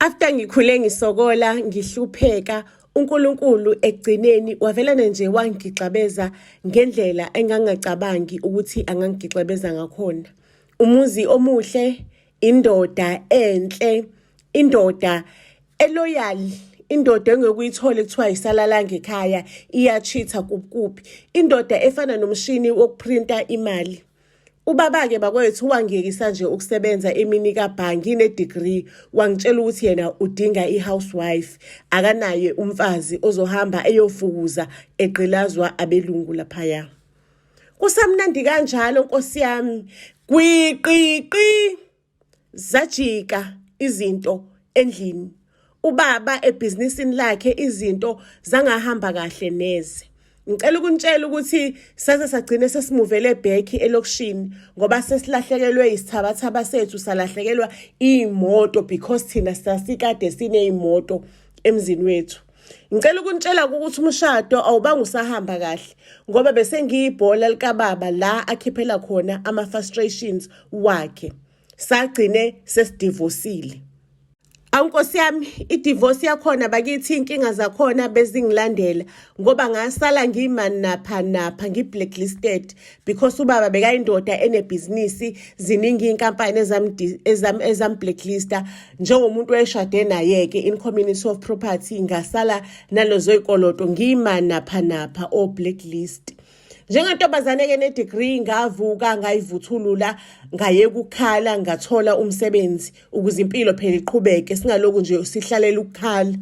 After ngikhule ngisokola ngihlupheka uNkulunkulu ekugcineni wavelana nje wangigixabeza ngendlela engangacabangi ukuthi angangigixabeza ngakhona umuzi omuhle indoda enhle indoda eloyal indoda engekuyithola kuthiwa yisalalanga ekhaya iyachitha kuphi indoda efana nomshini wokuprinta imali Ubaba-ke bakwethu wangiyekisa nje ukusebenza emini kabhangi ne-degree wangitshela ukuthi yena udinga i-housewife akanaye umfazi ozohamba eyofukuza egqilazwa abelungu laphaya kusamnandi kanjalo nkosi yami gwiqiqi Zajika izinto endlini. Ubaba ebhizinisini lakhe izinto zangahamba kahle neze. Ngicela ukunitshela ukuthi saze sagcine sesimuvele ebhekhi elokishini ngoba sesilahlekelwe isithabathaba sethu salahlekelwa iy'moto because thina sasikade siney'moto emzini wethu. ngicela ukunitshela ukuthi umshado awubanga usahamba kahle ngoba bese ngiyibhola likababa la akhiphela khona ama-frustrations wakhe sagcine sesidivosile awunkosi yami idivorce yakhona bakithi inkinga zakhona bezingilandela ngoba ngasala ngiyimani napha napha ngi-blacklisted because ubaba bekayindoda enebhizinisi ziningi iy'nkampani ezam-blacklista njengomuntu eshade naye-ke in community of property ngasala nalezo y'koloto ngima napha napha o blacklist njengantombazane-ke nedegree ngavuka ngayivuthulula ngaye kukhala ngathola umsebenzi ukuze impilo phela iqhubeke singaloku nje sihlalela ukukhala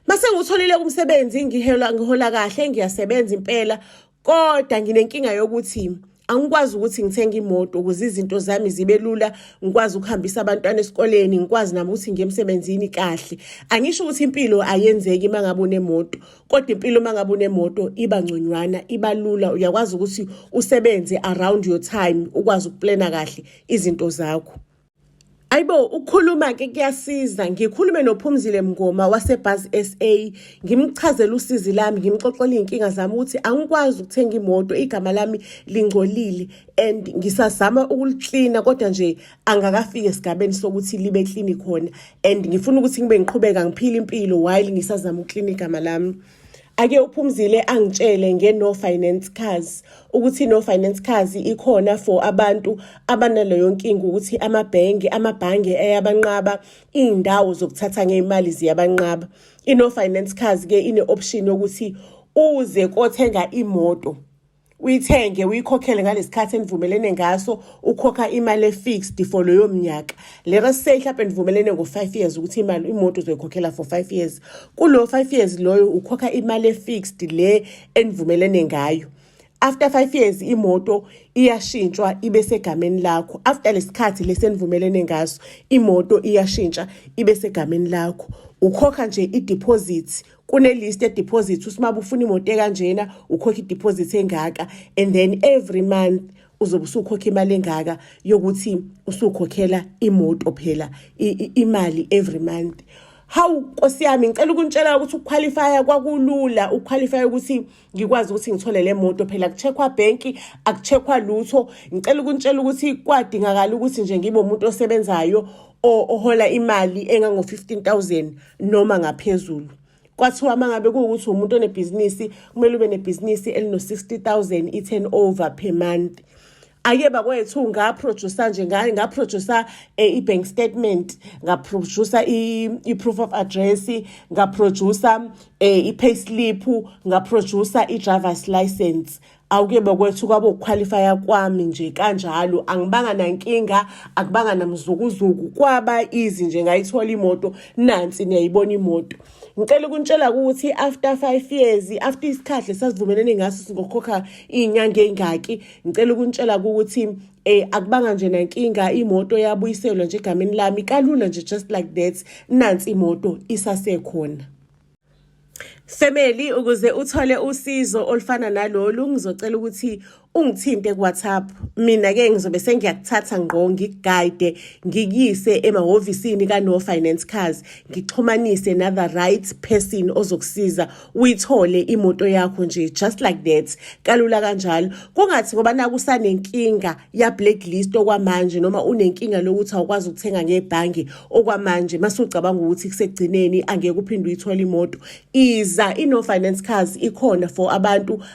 mase ngutholile umsebenzi ngihola ngihola kahle ngiyasebenza impela kodwa nginenkinga yokuthi angikwazi ukuthi ngithenge imoto ukuze izinto zami zibe lula ngikwazi ukuhambisa abantwana esikoleni ngikwazi nami ukuthi ngiye emsebenzini kahle angisho ukuthi impilo ayenzeki uma ngabe unemoto kodwa impilo uma ngabe unemoto iba ngconywana iba lula uyakwazi ukuthi usebenze around your time ukwazi ukuplana kahle izinto zakho Ayibo ukukhuluma ke kuyasiza ngikhulume nophumzile mngoma wasebhaz SA ngimchazela usizi lami ngimxoxela izinkinga zami ukuthi angikwazi ukuthenga imoto igama lami lingcolile and ngisazama ukuliklina kodwa nje angakafiki esigabeni sokuthi libe klini khona and ngifuna ukuthi ngibe ngiqhubeka ngiphile impilo while ngisazama ukuklina igama lami ake uphumzile angitshele ngeno finance cars ukuthi no finance cars ikhona for abantu abanaleyo nkinga ukuthi amabhenki amabhange eyabanqaba izindawo zokuthatha ngeimali ziyabanqaba ino finance cars ke ine option yokuthi uze kothenga imoto uyithenge uyikhokhele ngalesikhathi enivumelene ngaso ukhokha imali efixed for loyo mnyaka let us say mhlawumbe nivumelene ngo-five years ukuthi imali imoto uzoyikhokhela for five years kulowo five years loyo ukhokha imali efixed le enivumelene ngayo after five years imoto iyashintshwa ibe segameni lakho after lesikhathi lesenivumelene ngaso imoto iyashintsha ibe segameni lakho ukhokha nje ideposit kunelist yedeposit usimaba ufuna imoto ekanjena ukhokha ideposit engaka and then every month uzobe usukhokha imali engaka yokuthi usukhokhela imoto phela imali every month hawu nkosi yami ngicela ukuntshela ukuthi ukuqualifya kwakulula ukuqualifya ukuthi ngikwazi ukuthi ngithole le moto phela kucheckwa bhenki akucheckwa lutho ngicela ukuntshela ukuthi kwadingakala ukuthi nje ngibe umuntu osebenzayo ohola imali engango-fifteen thousand noma ngaphezulu kwathiwa uma ngabe kuwukuthi umuntu onebhizinisi kumele ube nebhizinisi elino-sixty thousand i-turn over per month ake bakwethu ngaproducer nje ngaproducer eh, i-bank statement ngaproducer i-proof of address ngaproducer eh, i-pay slip ngaproducer i-driver's license awuke bakwethu kwabo ukukhwalifaya kwami nje kanjalo angibanga nankinga akubanga namzukuzuku kwaba izi nje ngayithola imoto nansi niyayibona imoto ngicela ukuntshela ukuthi after five years after isikhathi lesasivumelene ngaso singokhokha iy'nyanga ey'ngaki ngicela ukuntshela ukuthi um eh, akubanga nje nankinga imoto yabuyiselwa nje egameni lami kalula nje just like that nansi imoto isasekhona Family ukuze uthole usizo olufana nalolu ngizocela ukuthi ungithinte kuWhatsApp mina ke ngizobe sengiyakuthatha ngqo ngigayide ngikuyise emahhovisini ka No Finance Cars ngixhumanise na the right person ozokusiza uyithole imoto yakho nje just like that kalula kanjalo kungathi ngoba nakusanenkinga ya blacklist okwamanje noma unenkinga lokuthi awukwazi ukuthenga ngebhangi okwamanje masucabanga ukuthi kusegcineni angeke uphinde uyithole imoto iza iNo Finance Cars ikhona for abantu